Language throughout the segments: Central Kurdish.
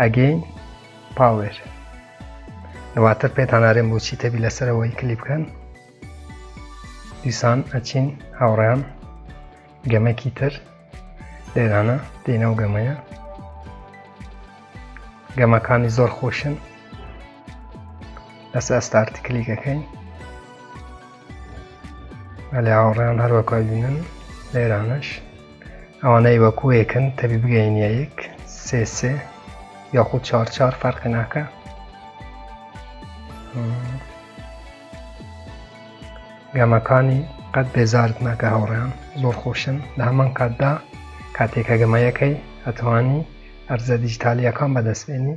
ئەگەین پاوێر دواتر پێتانارێن بۆچی تەبی لەسەرەوەی کلی بکەن دیسان ئەچین هاوڕیان گەمەکی تر لێرانە دێنەوە گەمەیە گەمەکانی زۆر خۆشن لەسەر ئەستارتی کلیکەکەین ئەلی هاوڕێیان هەروەکو بینن لە ئێرانش ئەوانەی وەکوەکن تەبی بگەینە یەک سێ سێ یاخود چار چار فەرقی ناکە گەمەکانی قەت بێزارت ناکە هاوڕێیان زۆر خۆشن لە هەمان کاتدا کاتێکە گەمەیەکەی ئەتوانی ئەرزە دیجیتالیەکان بەدەستێنی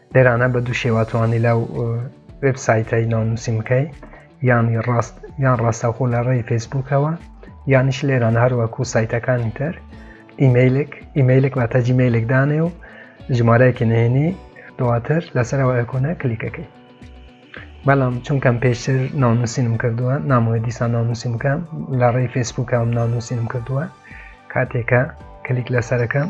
لێرانە بە دوو شێوا توانی لەو وێب سایتایی ناونووسین بکەی یانی ڕاست یان ڕاستەخۆ لە ڕێی فەیسبوکەوە یانیش لێران هەروەکو سایتەکانی تر ئیمەیلێک ئیمەیلێک واتە جیمەیلێک دانێ و ژمارەیەکی نهێنی دواتر لەسەرەوە ئەکۆنە کلیکەکەی بەڵام چونکەم پێشتر ناونووسینم کردووە نامۆە دیسان ناونووسین بکەم لە ڕێی فەیسبوکەم ناونووسینم کردووە کاتێکە کلیک لەسەرەکەم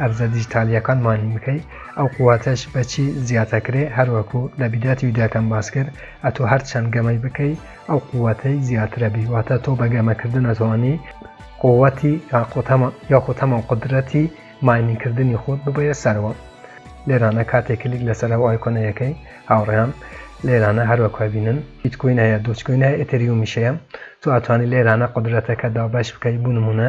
ئەرزە دیجیتالیەکان ماین بکەی ئەو قواتەش بە چی زیاتەکرێ هەر وەکو لە بیداتی وداکەم باس کرد ئەتو هەر چەند گەمەی بکەی ئەو قواتەی زیاترە بی واتە تۆ بە گەمە کردن ئەتوانی قوتی یاخو تەمەن قودرەتی ماینین کردنی خۆت ببەیە سەرەوە لێرانە کاتێک کلیک لەسەر ئەو ئایکۆنە یەکەی هاوڕێیان لێرانە هەر وەکو بینن هیچ کوین هەیە دوچ کوین هەیە ئتریومیشەیە تۆ ئەتوانی لێرانە قودرەتەکە دابەش بکەی بونمونە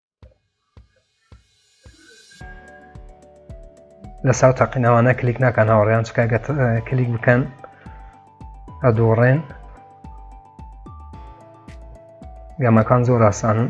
لەسا و تاقینەوانە کلیک ناکەن هاوڕێیان چکە کلیک بکەن ئەدۆڕێن گەمەکان زۆر ئاسانن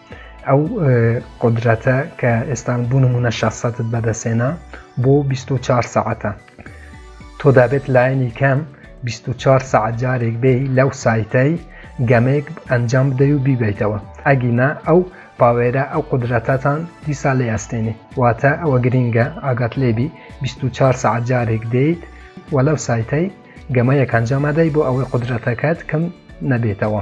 ئەو قدرەتە کە ئێستا بوو نمونە شەسەتت بەدەسێنا بۆ 24 ساعتە تۆ دابێت لایەنی کەم 24 ساعت جارێک بێ لەو سایتەی گەمێک ئەنجام بدەی و بیبیتەوە ئەگینا ئەو پاوێرە ئەو قدرەتەتان دیسا لێ ئەستێنی واتە ئەوە گرینگە ئاگات لێبی 24 ساعت جارێک دێیت و لەو سایتەی گەمەیەکان جامادەی بۆ ئەوەی قدرەتەکەت کەم نەبێتەوە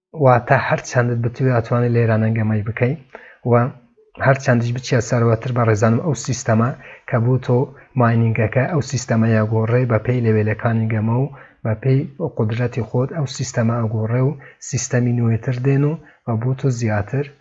واتە هەر چەندت بتوێ ئەتوانی لە ئێرانە گەمەی بکەی و هەر چەندیش بچیە سەروەتر بەڕێزانم ئەو سیستەمە کە بۆ تۆ ماینینگەکە ئەو سیستەمە یاگۆڕێ بە پێی لەوێلەکانی گەمە و بە پێی قودرەتی خۆت ئەو سیستەمە ئەگۆڕێ و سیستەمی نوێتر دێن و بۆ تۆ زیاتر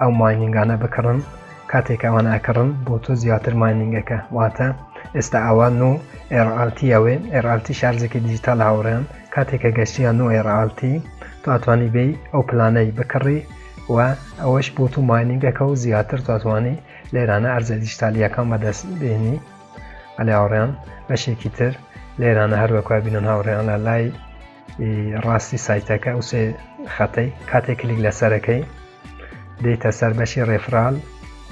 ئەو ماینینگانە بکڕن کاتێک ئەوان ئەکڕن بۆ تۆ زیاتر ماینینگەکە واتە ئێستا ئەوە نو ئێرالتیەوەێ ئێرالتی شارزێکی دیجیتال هاوڕێن کاتێکە گەشتیان نو ئێرالتی تو ئەتوانی بی ئەو پلانەی بکڕی و ئەوەش بۆ تو ماینینگەکە و زیاتر تواتوانی لێرانە ئەرزە دیجیتالیەکان بەدەست بێنی ئەلی هاوڕێن بەشێکی تر لێرانە هەروەکو بینن هاوڕێیان لە لای ڕاستی سایتەکە ئەو سێ خەتەی کاتێک کلیک لەسەرەکەی دێتە سەر بەشی ڕێفرال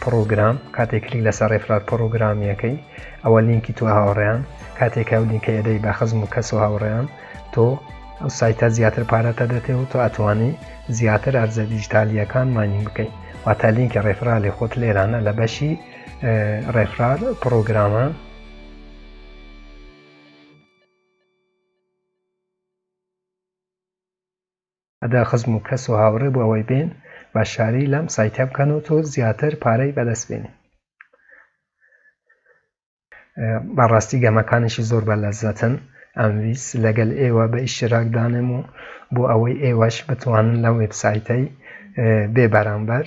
پرۆگرام کاتێک کلیک لەسەر ڕێفرال پرۆگرامیەکەی ئەوە لینکی تو هاوڕێیان کاتێک ئەو لینکە ئەدەی بە خزم و کەس و هاوڕێیان تۆ ئەو سایتە زیاتر پارەتە دەتێ و تۆ ئەتوانی زیاتر ئەرزە دیجیتالیەکان مانی بکەیت واتە لینکی ڕێفرالی خۆت لێرانە لە بەشی ڕێفرال پرۆگرامە ئەدا خزم و کەس و هاوڕێ بۆ ئەوەی بێن بەشداری لەم سایتە بکەن و تۆ زیاتر پارەی بەدەست بێنی بەڕاستی گەمەکانیشی زۆر بە لەزەتن ئەمویست لەگەل ئێوە بە ئیشتراک دانێم و بۆ ئەوەی ئێوەش بتوانن لەم وێبسایتەی بێ بەرامبەر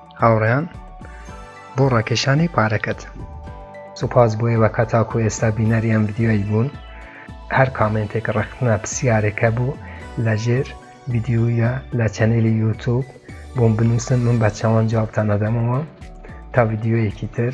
هاوڕێیان بۆ ڕاکێشانی پارەکەت سوپاس بۆ ئێوە کە تاکو ئێستا بینەری ئەم ڤیددیۆی بوون هەر کامنتێک ڕخنە پرسیارێکە بوو لەژێر ڤیددیویە لە چەنێلی یوتوب بۆم بنووسن من بە چاوان جوابتان نەدەمەوە تا ڤیددیۆیەکی تر